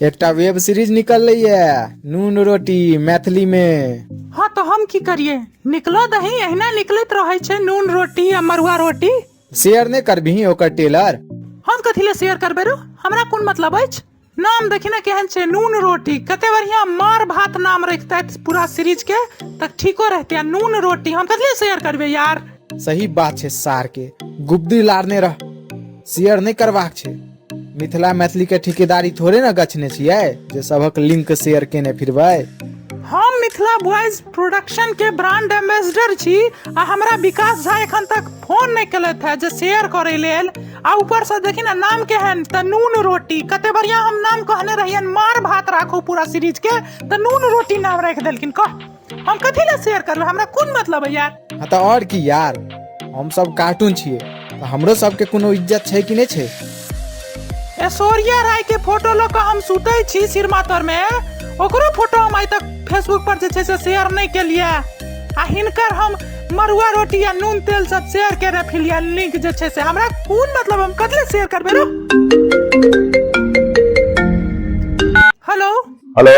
एकटा web series निकललै ये नून रोटी मैथिली मे हाँ तो हम की करिए निकलो दही अहिना निकलैत रहे छै नून रोटी आ मरुआ रोटी शेयर नहि करबिही ओकर टेलर हम कथी ले शेयर करबे रो हमरा कोन मतलब अछि नाम देखी ने केहन छै नून रोटी कते बढ़िया मार भात नाम रखते पूरा सीरीज के तक ठीको रहते आ नून रोटी हम कथी ले शेयर करबे यार सही बात छै सार के गुब्दी लारने रह शेयर नहि करबाक छै मिथिला मैथिली के ठेकेदारी थोड़े ने गछने छियै जे सबक लिंक शेयर केने फिरबै हम मिथिला बॉयज प्रोडक्शन के ब्रांड एम्बेसडर छी आ हमरा विकास झा एखन तक फोन नहि केलथि है जे शेयर करे लेल आ ऊपर से देखी ना नाम केहन त नून रोटी कते बढ़िया हम नाम कहने रहियन मार भात राखू पूरा सीरीज के त नून रोटी नाम राखि देलखिन कह हम कथी ला शेयर करबे हमरा कोन मतलब है यार हाँ तो और की यार हम सब कार्टून छिए तो हमरो सबके कोनो इज्जत छै कि नहीं छै ऐश्वर्या राय के फोटो लऽ कऽ हम सुतै छी सिरमा तर में ओकरो फोटो हम आइ तक फेसबुक पर जे छै से शेयर नहि केलिए आ हिनकर हम मरुआ रोटी आ नून तेल सब शेयर केने फिलिया लिंक जे छै से हमरा कोन मतलब हम कतले शेयर करबे रो हेलो हेलो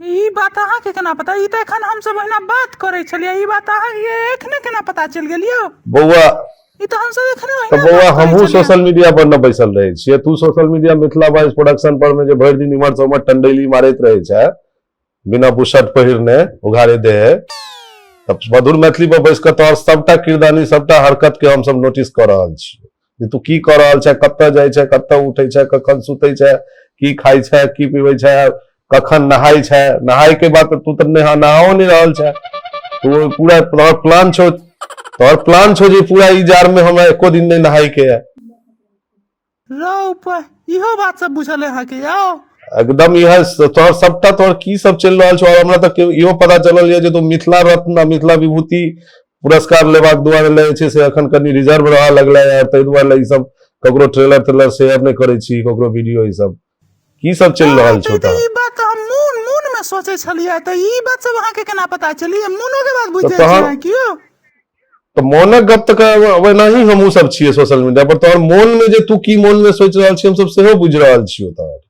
ई बात अहाँके केना पता ई तऽ एखन हमसभ ओहिना बात करै छलियै ई बात अहाँके एखने केना पता चलि गेल यौ बौआ ई तऽ हमसभ एखने तऽ ओहिना बौआ बात करै हमहूँ छलियै। सोशल मीडिया पर न बैसल रहै छियै तू social media Mithila boys production पर में जे भरि दिन इम्हर से उम्हर टंडेली मारैत रहै छै बिना बुशर्ट पहिरने उघारे दे तब मधुर मैथिली पर बैस कऽ तोहर सबटा किरदानी सबटा हरकत के हमसब नोटिस कऽ रहल छियै जे तू की कऽ रहल छे कतऽ जाइ छे कतऽ उठै छे कखन सुतै छे की खाइ छे की पीबै छे कखन नहाय छे नहाय के बाद तू तऽ नहा नहाओ नहि रहल छे तो पूरा तोहर प्लान छो तोहर प्लान छो जे पूरा ई जार में हमरा एको दिन नहीं नहाय के है रौ प- इहो बात सब बुझल है अहाँके यौ एकदम यह तोहर सबटा तोहर की सब चल रहल छो और हमरा तक इहो पता चलल ये जे तू मिथिला रत्न आ मिथिला विभूति पुरस्कार लेबाक दुआरे लए जे छै से एखन कनि रिजर्व रहऽ लगलै यार ताहि दुआरे लए ई सब ककरो ट्रेलर ट्रेलर शेयर नहि करै छी ककरो वीडियो ई सब की सब चलि रहल छै तऽ ई बात हम मून मून में सोचे छलिए तऽ ई बात सब अहाँ के केना पता चलिए मूनो के बात बुझ जाय तहन- छै कियो तऽ मोनक गप तऽ क- ओहिना ही हमहूँ सब छियै सोशल मीडिया पर तोहर मोन में जे तू की मोन में सोचि रहल छी हमसब सेहो बुझि रहल छियौ तोहर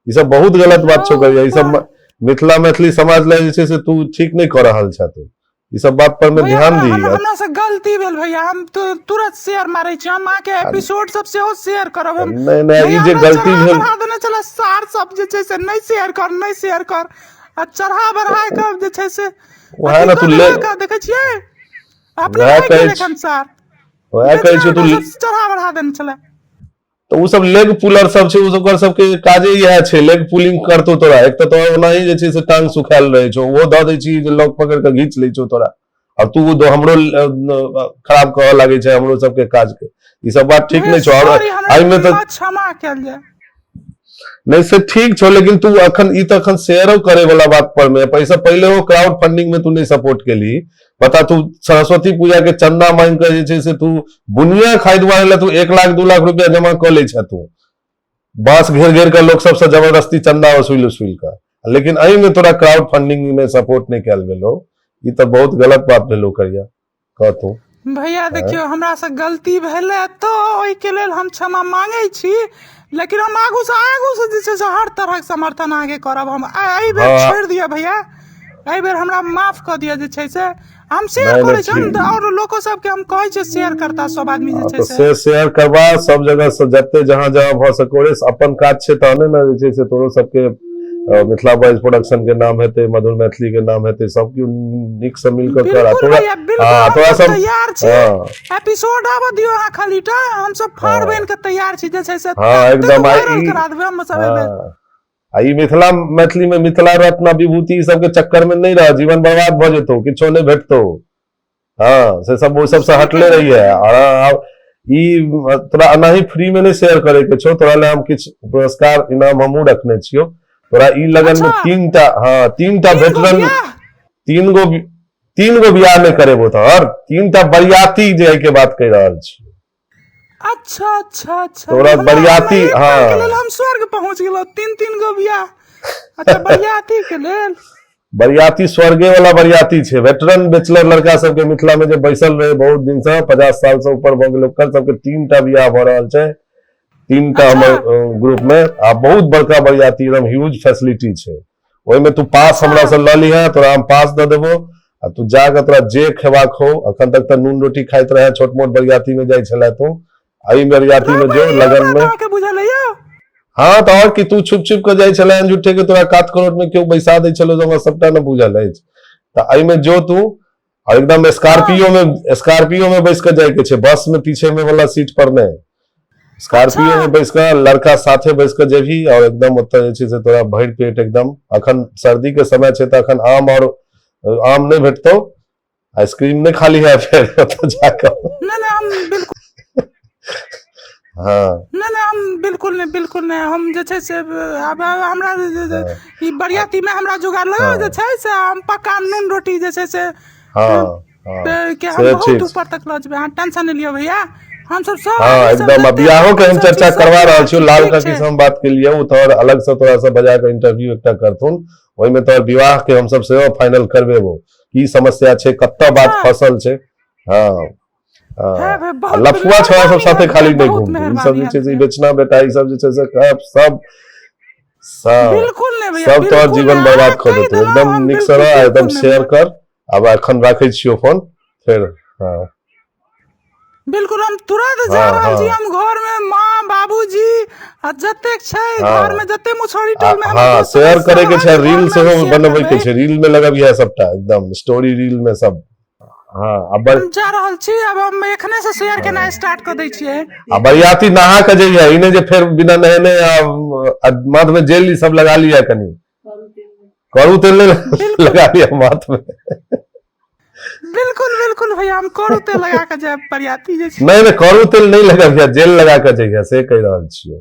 ई सब बहुत गलत बात छौ करिया ई सब म- मिथिला मैथिली समाज लए जे छै से तू ठीक नहि कऽ रहल छह तू ई सब बात पर में भैया, ध्यान हमरा- दीगा हमरा से गलती भेल भैया हम तु- तुरंत शेयर मारे छी हम अहाँके एपिसोड सब सेहो शेयर करब हम नहि नहि ई भैया, जे हमरा गलती चढ़ा भेल बढ़ा देने छले सार सब जे छै से नहि शेयर कर नहि शेयर कर आ चढ़ा बढ़ा के जे छै से ओएह अथी ने तू कऽ ले- देलक, देखे छियै अपने ओएह नहि कहै केलक छी। हम सार ओएह कहै छी तू चढ़ा बढ़ा देने छले तऽ ओ सब लेग पुलर सब छै ओकर सबके काजे इएह छै लेग पुलिंग करतौ तोरा एक तऽ तोरा ओनाही जे छै से टांग सुखायल रहै छौ ओहो दऽ दै छी जे लॉक पकड़ि कऽ घीच लै छौ तोरा आ तू हमरो खराब कहऽ लागै छै हमरो सबके काज के ई सब बात ठीक नहि छौ आओर एहिमे तऽ क्षमा कयल जाय नहि से ठीक छौ लेकिन तू अखन ई तऽ अखन शेयरो करे वाला बात पर मे पैसा पहिले ओ क्राउड फंडिंग में तू नहीं सपोर्ट केली बता तू सरस्वती पूजा के चंदा मांग कर जे छै से तू बुनिया खाइ दुआरे लए तू एक लाख दू लाख रुपया जमा कऽ लै छह तू बांस घेर घेर कऽ लोक सबसँ जबरदस्ती चंदा वसूल वसूल कऽ लेकिन एहिमे तोरा क्राउड फंडिंग में सपोर्ट नहीं कल गेलो ई तऽ बहुत गलत बात भेलो करिया कह तू भैया देखियो हमरा से गलती भेले तो ओहि के लेल हम क्षमा मांगे छी लेकिन हम आगू से आगू से जे छै से हर तरहक समर्थन अहाँके करब हम आ- एहि बेर हँ। छोड़ि दिअ भैया एहि बेर हमरा माफ कऽ दिअ जे छै से हम शेयर नहि, करै नहि, छी हम ठीक। आओर लोको सबके हम कहै छियै शेयर करता सब आदमी जे हँ, छै तऽ से से शेयर करबा सब जगह से जते जहाँ जहाँ भऽ सको रे अपन काज छै तहने ने जे छै से तोरो सबके अ, मिथिला बॉयज प्रोडक्शन के नाम हेतै मधुर मैथिली के नाम हेतै सब केओ नीक से मिल कऽ कर आ बिल्कुल तोरा भैया बिल्कुल हाँ, हम थोड़ा सब सा- तैयार छी हाँ, एपिसोड आबऽ दियो अहाँ खाली टा हम सब फाड़ हाँ। बन के तैयार छी जे छै से हां एकदम वायरल करा देबे हम सब एबे हाँ। आ ई मिथिला मैथिली में मिथिला रत्न विभूति ई सब के चक्कर में नहीं रह जीवन बर्बाद भ जेतो किछो नहीं भेटतो हां से सब वो सब से हटले रही है और हाँ, ई तोरा अनाही फ्री में नहीं शेयर करे के छो तोरा ले हम किछ पुरस्कार इनाम हमहु रखने छियो तोरा ई लगन अच्छा। में तीन टा हां तीन टा भेटल तीन गो तीन गो बियाह में करेबो तोहर तीन टा बरियाती जे एहि के बात कहि रहल छी अच्छा अच्छा अच्छा तोरा मतलब बरियाती, एक बार के हाँ। लेल हम स्वर्ग पहुंच गेलो तीन तीन गो बियाह अच्छा बरियाती के लेल बरियाती स्वर्गे वाला बरियाती छै वेटरन बैचलर लड़का सबके मिथिला में जे बैसल रहे बहुत दिन से पचास साल से ऊपर भऽ गेल ओकर सबके तीन टा बियाह भऽ रहल छै तीन टा हमर ग्रुप में आ बहुत बड़का बरियाती एकदम ह्यूज फैसिलिटी छै ओहिमे तू पास हमरा से लऽ लिहे तोरा हम पास दऽ देबो आ तू जाके तोरा जे खेबाक हो अखन तक तऽ नून रोटी खाइत रहे छोट मोट बरियाती में जाइ छले तू एहि बरियाती में जो लगन में के बुझल है यौ हाँ तऽ और कि तू छुप छुप के जाइ छले झूठे के तोरा कात करोट में केओ बैसा दै छलो जे हमरा सबटा ने बुझल अछि तऽ एहिमे जो तू और एकदम स्कॉर्पियो में स्कॉर्पियो में बैस के जाए के छै बस में पीछे में वाला सीट पर ने स्कॉर्पियो अच्छा। में बैस के लड़का साथे बैस के जेबी और एकदम ओत जे छै से तोरा भरि पेट एकदम अखन सर्दी के समय छै त अखन आम और आम नहीं भेटतो आइसक्रीम नहीं खाली है फिर ओत जाकर ना ना हम बिल्कुल हँ नहि नहि हम बिल्कुल नहि बिल्कुल नहि हम जे छै से आब हमरा ई बरियाती मे हमरा जोगाड़ लगा जे छै से हम पक्का नून रोटी जे छै से हँ हँ पे- के हम से बहुत ठीक ऊपर तक लऽ जेबै अहाँ टेंशन नहि लिअ भैया हम सब सब हँ ई सब एकदम जते बियाहो के हम हम सब चर्चा चीज करवा सब रहल छी लाल ठीक काकी छै। से हम बात के लिए ओ तोहर अलग से तोरा से बजा के इंटरव्यू एकटा करथुन ओहिमे तोहर विवाह के हम सब सेहो फाइनल करबेबो की समस्या छै कतऽ बात हँ। फसल छै हँ लफुआ छोड़ा सब साथे खाली नहीं घूमते ई सब जे छै से बेचना बेटा ई सब जे छै से सब सब सब सब तो जीवन बर्बाद कर देते एकदम निक से रह एकदम शेयर कर अब अखन राखे छियो फोन फिर हां बिल्कुल हम तुरंत जा हाँ, रहल छी हाँ। हम घर में मां बाबूजी आ जतेक छै हाँ। घर में जते मुछोरी टोल में हां शेयर करे के छै रील से बनबै के छै रील में लगाबिया सबटा एकदम स्टोरी रील में सब हाँ आ बर हम जा रहल छी अब हम एखने से शेयर केनाइ स्टार्ट कऽ दै छियै आ बरियाती नहा के जइया ई नहि जे फेर बिना नहेने आ आ माथ में जेल ई सब लगा लिया कनी करू तेल नहि लगा लिया माथ में बिल्कुल बिल्कुल भैया हम करू ते लगा कऽ जायब बरियाती जे छै नहि नहि करू तेल नहि लगा लिया जेल लगा के जइया से कहि रहल छियै